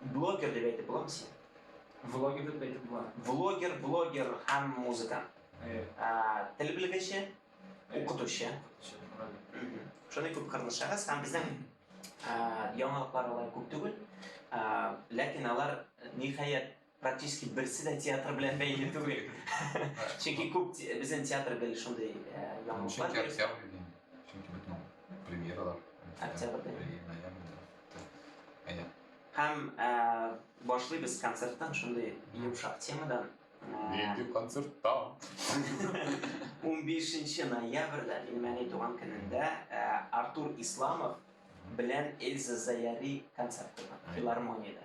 Блогер дип әйтеп буламы сине? Влогер дип әйтеп була. Влогер, блогер һәм музыкант. Әйе. А, тел белгече, укытучы. Шундый күп кырлы шәхес һәм безнең яңалыклар алай күп түгел. Ләкин алар ниһаять Практически берсе дә театр белән бәйле түгел. Чөнки күп безнең театр гел шундый яңалыклар. Чөнки октябрь дигән. Чөнки бит моң премьералар. Октябрьдә. Ноябрьдә. Әйе. Һәм башлыйбыз концерттан шундый йомшак темадан. Нинди концерттан? 15 ноябрьдә, минем әни туган көнендә, Артур Исламов белән Эльза Заяри концерты бар, филармониядә.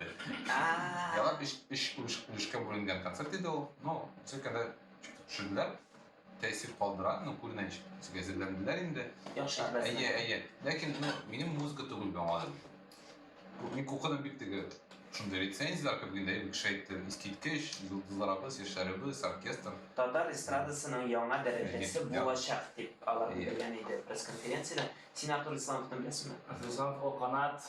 Яна үш үш үш үшкә бүленгән концерт иде ул. Ну, циркада төшерделәр. Тәэсир калдыра, ну, күренеш безгә әзерләнделәр инде. Яхшы итмәс. Әйе, әйе. Ләкин ну, минем музыка түгел бу аңладым. Мин кукыны бик теге шундый рецензияләр күп генә бик шәйтте. Искиткеч, йолдызларыбыз, яшьләребез, оркестр. Татар эстрадасының яңа дәрәҗәсе булачак дип алар белдергән иде пресс-конференциядә. Син Артур Исламовны беләсеңме? Артур Исламов, О, канат.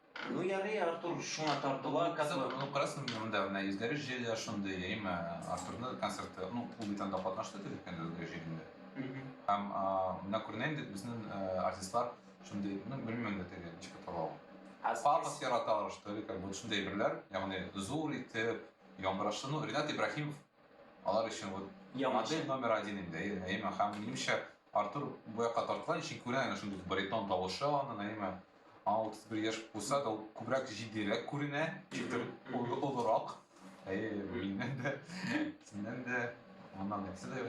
Ну ярый, Артур шуңа тартыла. Хәзер ну күрәсең монда менә йөзләре җыелган шундый, яме Артурның концерты, ну ул бит анда катнашты төзек кенә йөзләре җыелганда. Һәм менә күренәм дип безнең артистлар шундый, ну белмим дә теге ничек атала ул. Пафос яраталар что ли, как будто шундый әйберләр, ягъни зур итеп, яңгырашлы, ну Ренат Ибраһимов Алар өчен вот модель номер один инде Наима. Һәм минемчә Артур бу якка тарткан өчен күрә аны шундый баритон тавышы аны Наима. Аңа 31 яшь булса да ул күбрәк җитдирәк күренә, читер олырак. Әйе, миннән дә, синнән дә, моннан нәрсә дә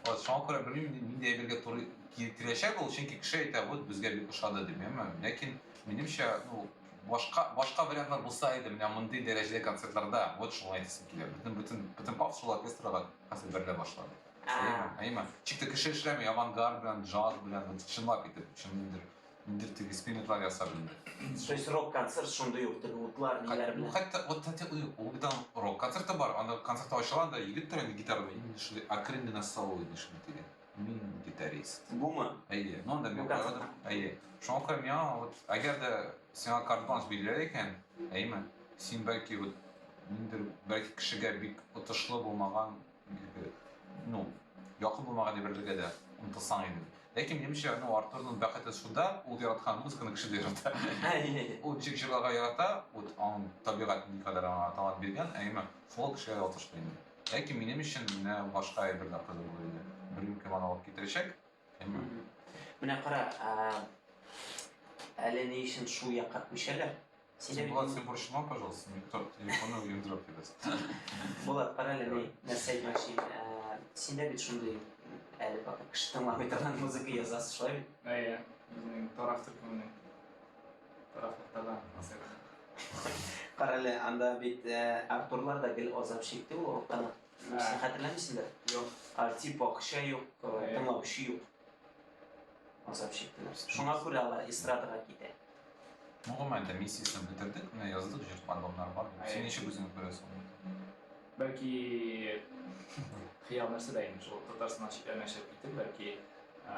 Вот, шуңа күрә белмим, нинди әйбергә туры китерәчәк ул, чөнки кеше әйтә, вот безгә бик ошады дип, әмма ләкин минемчә, ну, Башка, башка вариантлар булса иде, менә мондый дәрәҗәдә концертларда, вот шуны әйтәсем килә. Бөтен, бөтен, бөтен паф шул оркестрга хәзер бәрелә башлады. Әйеме? Әйеме? Чик тә кеше эшләми, авангард белән, джаз белән, вот чынлап итеп, чын ниндер, ниндер теге экспериментлар ясап инде. То есть рок-концерт шундый ук теге утлар, ниләр белән? Хәтта, вот хәтта ул бит аның рок-концерты бар, аны концерт ачыла, анда егет тора инде гитарада, именно шундый акрен генә соло иде шундый теге. Мин гитарист. Бумы? Әйе. Ну, анда мин карадым. Әйе. Шуңа күрә миңа вот, әгәр дә сиңа карт-бланш бирелә икән, әйеме, син бәлки вот ниндидер бәлки кешегә бик отышлы булмаган, ну, якын булмаган әйберләргә дә омтылсаң иде. Ләкин минемчә, ну, Артурның бәхете шунда, ул яраткан музыканы кеше дә ярата. Ул ничек җырларга ярата, вот аның табигатен никадәр аңа талант биргән, әйеме, шул кешегә отышлы инде. Ләкин минем өчен менә башка әйбер дә кызык булыр иде. Бер юбка мана алып китерәчәк. Менә кара, әле ни өчен шул якка күчәләр? Син Булат, син борчылма, пожалуйста, никто телефонны уендырып китәсен. Булат, кара әле ни, нәрсә әйтмәкче. Синдә бит шундый әле пока кеше тыңламый торган музыка язасыз, шулай бит? Әйе, безнең тараф төркеменең. Рафтала асык. Карале, анда бит э, Артурлар да гел азап чикте ул уртаны. Син хәтерләмисеңдер? Юк. Артип акча юк, э, тыңлаучы юк. Азап чиктеләр. Шуңа күрә алар эстрадага китә. Гомумән дә миссиясен бетердек, менә яздык җыр альбомнар бар. Син ничек үзеңне күрәсең? Бәлки хыял нәрсә дә инде шул Татарстаннан читләренә чыгып китеп, бәлки э,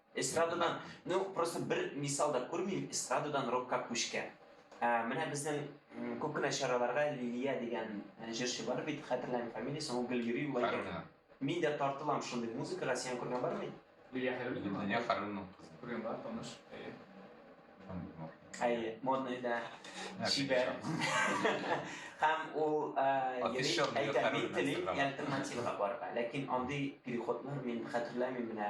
Эстрададан, ну просто бер мисал да күрмим, эстрададан рокка күчкән. Ә, менә безнең м, күп кенә чараларга Лилия дигән э, җырчы бар бит, хәтерләмим фамилиясен, ул гел йөри, ул әйтә. Хәрбина. Мин дә тартылам шундый музыкага, сиңа күргән бармы? инде? Лилия Хәрбина. Лилия Хәрбина кызы. Күргән бар, таныш. Әйе. Әйе, модный да. Чибәр. Һәм ул э, йөри, Афиша белән әйтә, мин Хәрбина телим Инстаграмда». альтернативага барырга. Ләкин андый переходлар мин хәтерләмим менә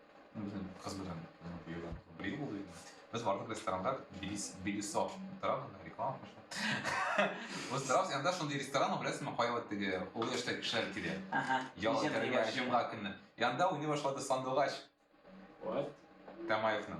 Безнең кыз белән безнең куюдан бер ел булды инде. Без бардык ресторанда Белис Белисо торам реклама кылышам. Без торабыз анда шундый ресторан беләсеңме, кая вот теге олы яшьтә кешеләр килә. Ага. Ял Ничек итәргә җыелган? җомга көнне. Янда уйный башлады сандугач What? Тамаевның.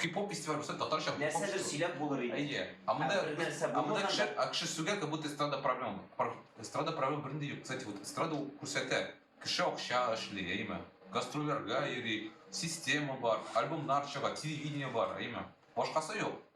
Хип-хоп фестиваль булса, татарча хип-хоп Нәрсәдер шоу. сөйләп булыр иде. Әйе. Ә монда Ә бер нәрсә ә монда булмаганда- кеше, ә кеше сүгә, как будто эстрада проблем. Пар- Эстрада проблем бернинди юк. Кстати, вот эстрада ул күрсәтә. Кеше акча эшли, әйеме? Гастрольләргә йөри, система бар, альбомнар чыга, телевидение бар, әйеме? Башкасы юк.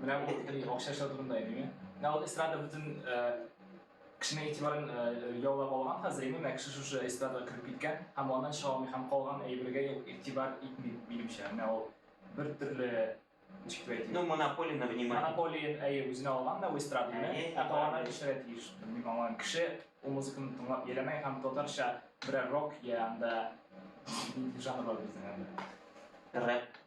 Менә бу бөтен акча эшләү турында иде мин. Менә ул эстрада бөтен кешенең игътибарын яулап алган хәзер инде менә кеше шушы эстрадага кереп киткән һәм аннан чыга алмый һәм калган әйбергә юк игътибар итми минемчә. Менә ул бер төрле ничек дип әйтим. Ну, монополия на внимание. Монополия әйе үзенә алган да эстраданы, ә калганнар кешегә тиеш. Мин аңлам. Кеше ул музыканы тыңлап ярамый һәм татарча берәр рок я анда жанр бар безнең анда. Рэп.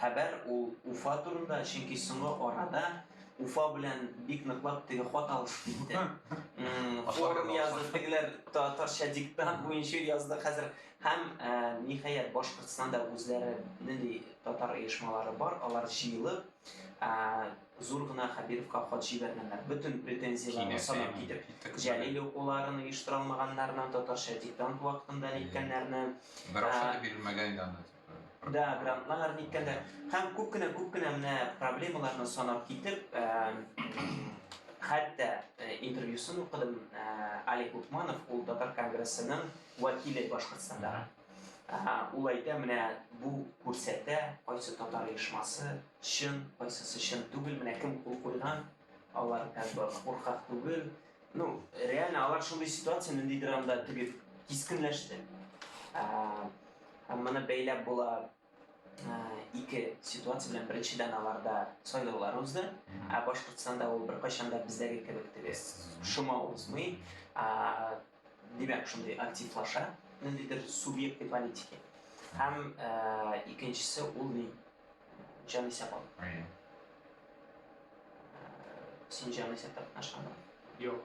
Хәбәр ул Уфа турында, чөнки соңгы арада Уфа белән бик ныклап теге хат алышып китте. Форум язды, тегеләр татарча диктант буенча язды хәзер. Һәм ниһаять Башкортстанда үзләре нинди татар оешмалары бар, алар җыелып Зур гына Хәбировка хат җибәргәннәр, бөтен претензияләрне санап китеп, Җәлил укуларын оештыра алмаганнарны, татарча диктант вакытында ниткәннәрне. Бер акча да бирелмәгән иде анда. Да, грантлар ниткәннәр. Һәм күп кенә, күп кенә менә проблемаларны санап китеп, хәтта интервьюсын укыдым, Алик Лукманов, ул татар конгрессының вәкиле Башкортстандагы. Әһә, ул әйтә, менә бу күрсәтә, кайсы татар оешмасы чын, кайсысы чын түгел, менә кем кул куйган, алар как бы куркак түгел. Ну, реально алар шундый ситуация ниндидер анда теге кискенләште. Ә, һәм моны бәйләп була ике ситуация белән беренчедән аларда сайлаулар узды ә башкортстанда ул беркайчан да бездәге кебек теге шома узмый димәк шундый активлаша ниндидер субъектный политики һәм икенчесе ул ни җан исәп алу син җан исәп тартмашканмы юк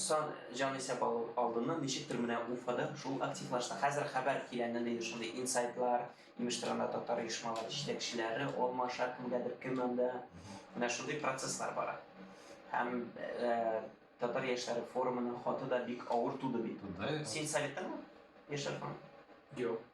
Сан җанисәп алу алдыннан ничектер менә Уфада шул активлашты. Хәзер хәбәр килә нинди шундый инсайдлар, имеш тор анда татар оешмалары җитәкчеләре алмаша кемгәдер кем анда. Менә шундый процесслар бара. Һәм татар яшьләре форумының хаты да бик авыр туды бит. Син Советтамы, яшьләр форумы? Юк.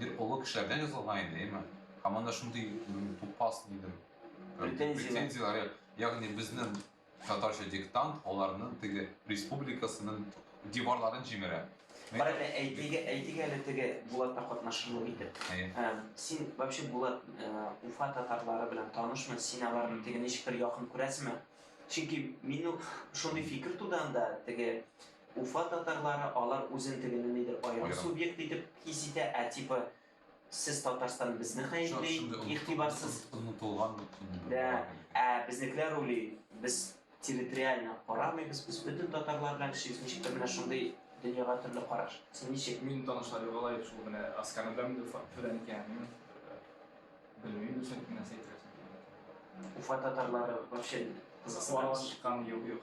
Бер олы кешеләрдән язылган иде, әйме? Һәм анда шундый тупас, дидем, претензияләр, ягъни безнең татарча диктант аларның теге республикасының диварларын җимерә. Бар әле, әйтик, әйтик әле теге Булатта катнашырлык итеп. Син вообще Булат Уфа татарлары белән танышмы? Син аларны теге ничектер якын күрәсеңме? Чөнки минем шундый фикер туды анда, теге Уфа татарлары алар үзен тегене нидер аерым субъект итеп хис итә, ә типа сез Татарстан безне гаепли, игътибарсыз онытылган дә, ә безнекеләр уйлый, без территориально карамыйбыз, без бөтен татарлар белән эшлибез, ничектер менә шундый дөньяга төрле караш. Син ничек? Мин танышлар югала иде шул менә Асканы беләм инде Уфа төбедән икәнен белмим дисәң нәрсә әйтергә соң Уфа татарлары вообще кызыксынабыз. Чыккан юк юк.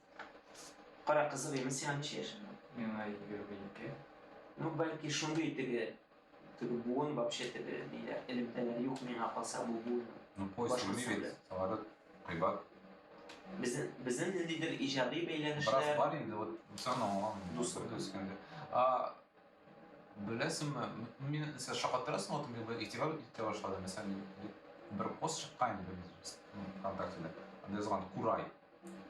Кара кызык имеш, сиңа ничә яшең бар? Миңа егерме ике. Ну, бәлки шундый теге теге буын вообще теге ниләр, элемтәләр юк миңа калса бу буын. Ну, поиск белми бит, самолет, кыйбат. Безнең безнең ниндидер иҗади бәйләнешләр. Бераз бар инде, вот Бусан аңлаган, Бусан төскәндә. А беләсеңме, мин сез шакаттырасың, вот мин игътибар итә башладым, мәсәлән, бер пост чыккан инде ВКонтактеда, анда язган Курай.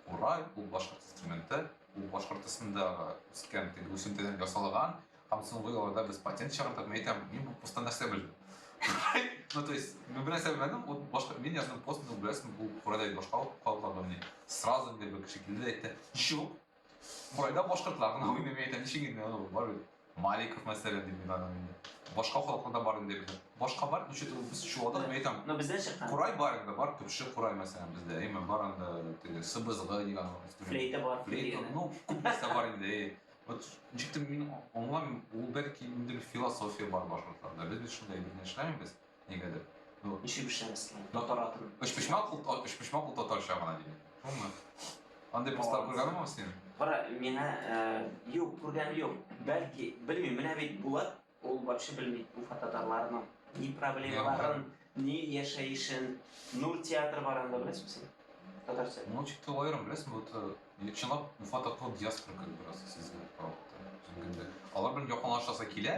Курай, ул башкорт инструменты, ул башкорт ысында үскән теге үсентедән ясалган, һәм соңгы елларда без патент чыгардык. Мин әйтәм, мин бу постта нәрсә белдем? Ну, то есть, мин белән сәбәбәнем, ул башка, мин яздым пост, ну, беләсең, бу курайда башка калган, мин сразу инде бер кеше килде әйтте, ничек, Кайда башкортлар гына уйный әйтә ничек инде ул бар бит. Маликов мәсәлән дип уйладым инде. Башка халыклар да бар инде бездә. Башка бар, ничек ул без чуадык әйтәм. Но бездән чыккан. Курай бар инде, бар төпче курай мәсәлән бездә. Әйме бар анда теге сыбызгы дигән. Флейта бар. Флейта, ну, күп нәрсә бар инде. Вот ничектер мин аңламыйм, ул бәлки инде философия бар башкортларда. Без бит шунда әйтеп эшләмибез. Нигәдер. Ну, Ничек эшләмәс? Татар атын. Өчпочмак ул та- өчпочмак ул татарча гына диләр. Шулмы? Андый постлар күргәнме ул син? Кара, миңа э, юк, күргән юк. Бәлки, белмим, менә бит Булат, ул вообще белми Уфа татарларының ни проблемаларын, ни яшәешен. Нур театры бар анда, беләсеңме син? Татар театры. Ну, чик тә аерым, беләсең, вот э, чынлап Уфа татлы диаспора кебек бераз сизелә караватта. Үзем кемдә. Алар белән якынлашасы килә,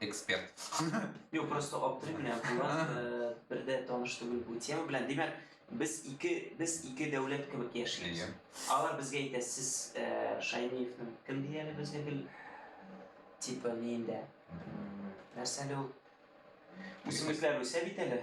эксперт. Юк, просто аптырыйм менә Булат бер дә таныш түгел бу тема белән. Димәк, без ике без ике дәүләт кебек яшибез. Алар безгә әйтә, сез Шаймиевның кем ди әле безгә гел типа ниендә. Нәрсә әле ул? Үсемлекләр үсә бит әле.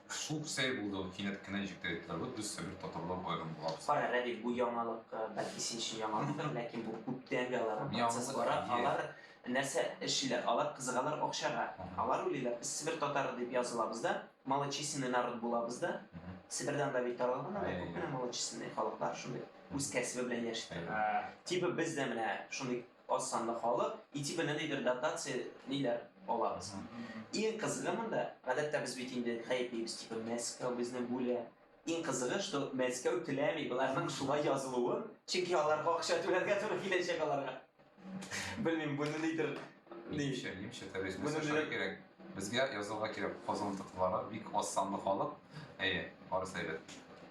Шук сәй булды ул, кинәт кенә җитәр итләр, вот без себер татарлар аерым булабыз. Кара, Рәдиф, бу яңалык, бәлки син өчен яңалыктыр, ләкин бу күптәнге аларның процессы бара. Алар нәрсә эшлиләр? Алар кызыгалар акчага. Алар уйлыйлар, без себер татары дип язылабыз да, малочисленный народ булабыз да. Себердә анда бит таралган анда күп кенә малочисленный халыклар, шундый үз кәсебе белән яши торган. Типа без дә менә шундый Аз санлы халык, ити белән нидер дотация ниләр алабыз. Иң кызыгы монда, гадәттә без бит инде гаеплибез, типа Мәскәү безне бүлә. Иң кызыгы, что Мәскәү теләми боларның шулай язылуын, чөнки аларга акча түләргә туры киләчәк аларга. Белмим, буны нидер Нимчә, нимчә тәрҗемә Моны эшләргә белән- кирәк. Безгә язылырга кирәк. Казан татарлары бик аз санлы халык. Әйе, барысы әйбәт.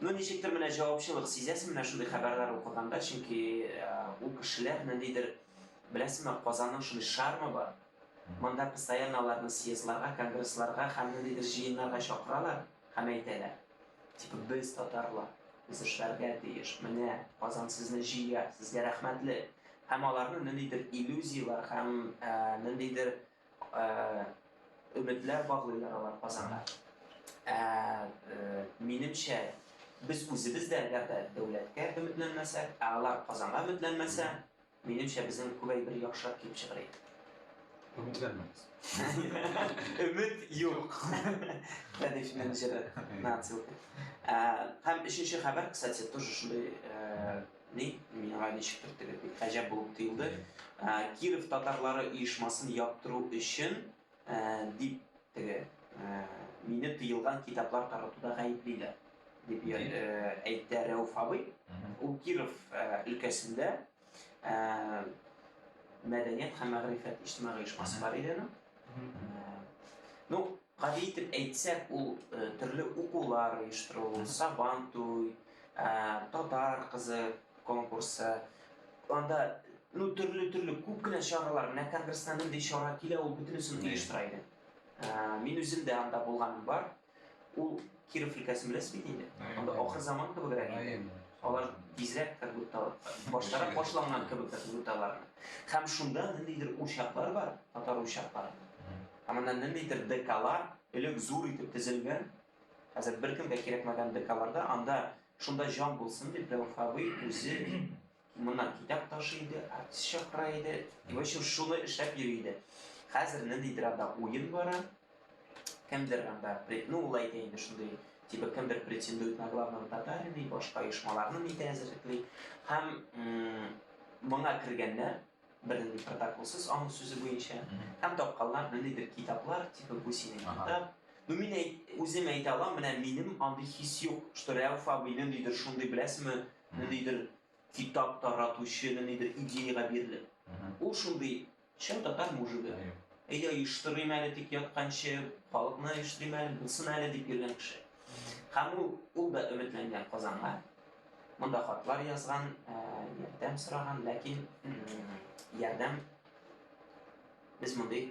Ну ничектер менә җавапчылык сизәсең менә шундый хәбәрләр укыганда, чөнки ул кешеләр ниндидер беләсеңме, Казанның шундый шармы бар. Монда постоянно аларны съездларга, конгрессларга һәм ниндидер җыеннарга чакыралар һәм әйтәләр. Типа без татарлар, без эшләргә тиеш. Менә Казан сезне җыя, сезгә рәхмәтле. Һәм аларны ниндидер иллюзияләр һәм ниндидер Өметләр баглыйлар алар Казанга. Ә минемчә, без үзебез дә әгәр дә дәүләткә өметләнмәсәк, ә алар Казанга өметләнмәсә, минемчә, безнең күбәй бер яхшырак килеп чыгыр иде. Өметләнмәгез. Өмет юк. Тәдиф менеджеры. Нацилка. Һәм өченче хәбәр, кстати, тоже шундый Ни, миңа ничектер теге бик гаҗәп булып тоелды. Киров татарлары оешмасын яптыру өчен дип теге мине тыелган китаплар таратуда гаеплиләр, дип әйтә Рәүф абый. Ул Киров өлкәсендә мәдәният һәм мәгърифәт иҗтимагый оешмасы бар иде аның. Ну, гади итеп әйтсәк, ул э, төрле укулар оештыру, сабан туй, э, татар кызы конкурсы, анда ну төрле төрле күп кенә чаралар, менә конгресста нинди чара килә, ул бөтенесен оештыра иде. Э, мин үзем дә анда булганым бар. Ул Киров өлкәсен беләсез бит инде. Анда ахыр заман кебегрәк инде. Алар тизрәк как будто баштарак башланган кебек как будто алар. Һәм шунда ниндидер учаклар бар, татар учаклары. Һәм анда ниндидер ДКлар элек зур итеп тезелгән. Хәзер беркемгә кирәкмәгән ДКларда анда шунда җан булсын дип Рәүф абый үзе Моннан китап ташый иде, артист чакыра иде. И, в общем, шуны эшләп йөри иде. Хәзер ниндидер анда уен бара. Кемдер анда, ну, ул әйтә инде шундый, типа кемдер претендует на главного татарина и башка оешмаларны нитә әзерлекли. Һәм моңа кергәннәр, бернинди протоколсыз аның сүзе буенча һәм тапканнар ниндидер китаплар типа бу синең китап ну мин әйт, үзем әйтә алам менә минем андый хис юк что рәүф абыйны нидер шундый беләсезме ниндидер китап таратучы, ниндидер идеягә бирелеп. Ул шундый чын татар мужигы. Әйдә, оештырыйм әле тик ятканчы, халыкны оештырыйм әле, булсын әле дип йөргән кеше. Һәм ул, ул да өметләнгән Казанга. Монда хатлар язган, ярдәм сораган, ләкин ярдәм без мондый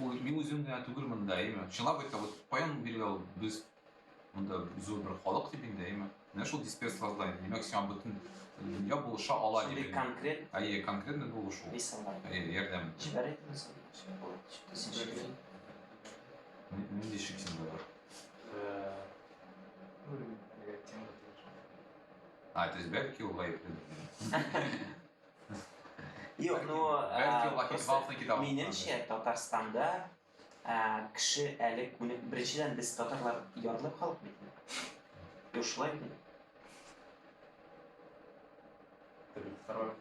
Ул мин үзем генә түгел монда, әйме? Чынлап әйтсәң, вот каян бирелә ул без монда зур бер халык дип инде, әйме? Менә шул дисперс создание. Димәк, сиңа бөтен дөнья булыша ала дип. Шундый конкрет. Әйе, конкретный булышу. Мисаллар. Әйе, ярдәм. Җибәрәйт мисал. Нинди шик синдә бар? А, то есть бәлки ул гаепле. Юк, ну, э, минемчә, Татарстанда э, кеше әле күне... Беренчедән, без татарлар ярлы халык бит. Юк, шулай бит. Второй.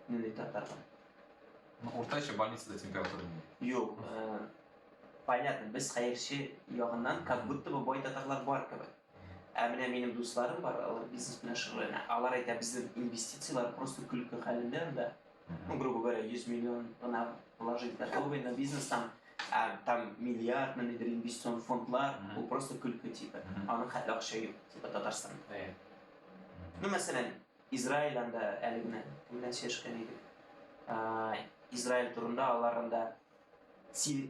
Ну, не татарлар. Ну, уртача больницада температура. Юк, э, понятно, без хәерче ягыннан, как будто бы бай татарлар бар кебек. Ә менә минем дусларым бар, алар бизнес белән шөгыльләнә. Алар әйтә, безнең инвестицияләр просто көлке хәлендә анда. Ну, грубо говоря, 100 миллион гына положить готовый на бизнес там, а там миллиард, ниндидер инвестицион фондлар, ул просто көлке типа. Аның хәтле акча юк, типа Татарстанда. Ну, мәсәлән, Израиль анда әле генә менә сөйләшкән идек. Израиль турында алар анда син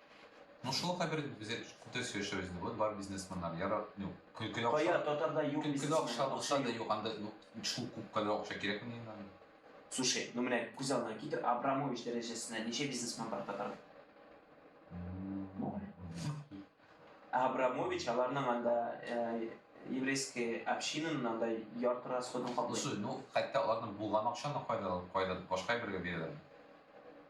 Ну шул хәбәр без күптән сөйләшәбез инде. Вот бар бизнесменнар ярар, ну, көлкеле акча. Кая татарда юк бизнесмен. Көлкеле акча булса да юк, анда ну, шул күп кадәр акча кирәкме инде? Слушай, ну менә күз алдына китер, Абрамович дәрәҗәсенә ничә бизнесмен бар татарда? Абрамович аларның анда э, еврейский общинаның анда ярты расходын каплый. Ну, хәтта аларның булган акчаны кайда кайда башка бергә бирәләр.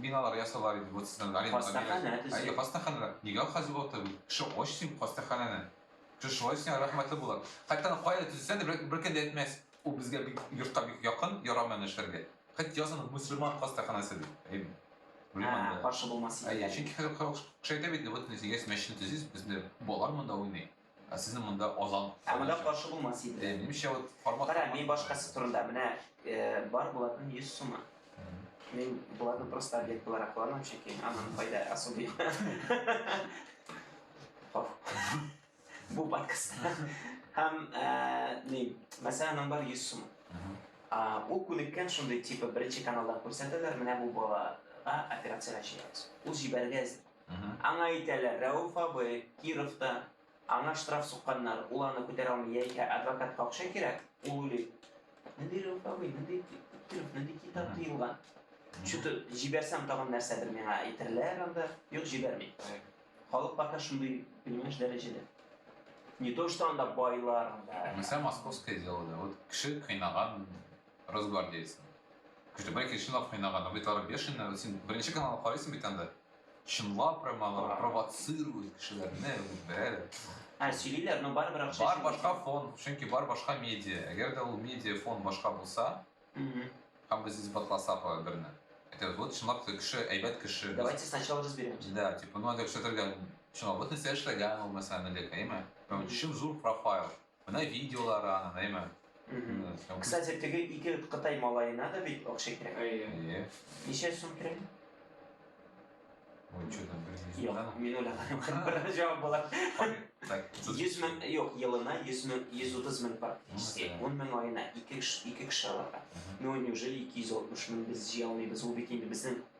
Биналар ясыйлар иде, вот сезнең Галина Гамилә. Хастаханә төзелә. Әйе, хастаханәләр. Нигә хәзер вакыты бу? Кеше ач син хастаханәне. Кеше шулай сиңа рәхмәтле булыр. Хәтта аны кая төзесә дә бер, бер кем дә әйтмәс. Ул безгә бик йортка бик якын, ярамый аны эшләргә. Хәт язын мусульман хастаханәсе дип. Әйе. Белмим Ә, анда. каршы булмас Әйе, идея. чөнки хәзер кеше әйтә бит, вот без дигәс мәчетне төзибез, безне балалар монда уйный. Ә сезнең монда азан. Ә монда каршы булмас иде. Э, Нимчә вот формат. Кара, мин башкасы турында менә э, бар булатын 100 сумы. Мин булатны просто объект буларак кыланам, чөнки анын файда особый юк. Хоф. Бу подкаст. Һәм э, ни, мәсәлән, аның бар 100 сумы. А, Ул күнеккән шундый типа беренче каналда күрсәтәләр, менә бу балага операция чыгарабыз. Ул җибәрергә әзер. Аңа әйтәләр, Рәүф абый, Кировта, аңа штраф сукканнар, ул аны күтәрә алмый, яисә адвокатка акча кирәк, ул уйлый, нинди Рәүф абый, нинди Киров, нинди китап тыелган, чуты җибәрсәм тагын нәрсәдер миңа әйтерләр анда, юк җибәрми. Халык пока шундый, понимаешь, дәрәҗәдә. Не то что анда байлар анда. Мисал московское дело да, вот кеше кыйнаган росгвардеецны. Кеше бай кешене кыйнаган, бит ары бешеный, син беренче каналны карыйсың бит анда. Чынлап прям алар провоцируют кешеләрне, бәрәләр. Ә сөйлиләр, но барыбер акча. Бар башка фон, чөнки бар башка медиа. Әгәр дә ул медиа фон башка булса, һәм без исбатласак алар берне. Это вот чынлап та кеше, әйбәт кеше. Давайте сначала разберемся. Да, типа, ну, это все только чынлап, вот нәрсә эшләгән ул мәсәлән, Олег, әйме? Прям чын зур профайл. Менә видеолар аны, әйме? Кстати, теге ике Кытай малаена да бит акча кирәк. Әйе. Ничә сум кирәк? Ой, что там, блин, Юк, мин уйлаганым бер җавап була. Так, 100 мең, юк, елына 100 мең, 130 мең практически. 10 мең айына ике кеше, ике кеше аларга. Ну, неужели 260 мең без җыя алмыйбыз? Ул бит инде безнең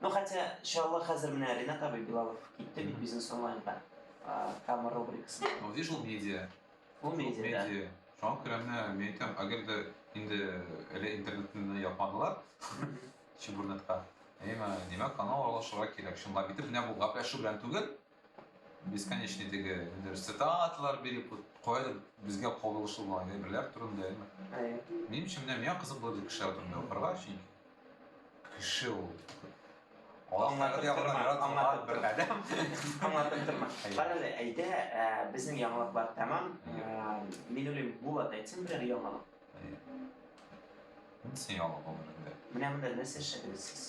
Ну хотя, иншалла, хәзер менә Ренат абый Билалов китте бит бизнес онлайнга. Камер рубрикасы. Ну, вижу медиа. Бу медиа. Медиа. Шуңа күрә менә мин әйтәм, әгәр дә инде әле интернетны япмадылар, чебурнетка. Әйме, димәк, аны алышырга кирәк. Шунда бит менә бу гәпләшү белән түгел, Бесконечный теге ниләр цитаталар биреп куялар безгә кагылышлы булган әйберләр турында әйме. Минем өчен менә миңа кызык булды кешеләр турында укырга өчен. Кеше ул. Аңлатып торма, бер адәм. Аңлатып торма. Карале, әйдә, ә, безнең яңалыклар тәмам. Ә, мин уйлыйм, Булат әйтсен берәр яңалык. Нинди яңалык булды инде? Менә монда нәрсә эшләдегез сез?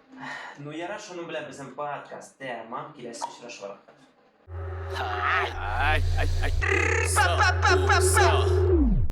Ну яра шуның белән безнең подкаст тәмам киләсе очрашулар. Ай, ай, ай, ай.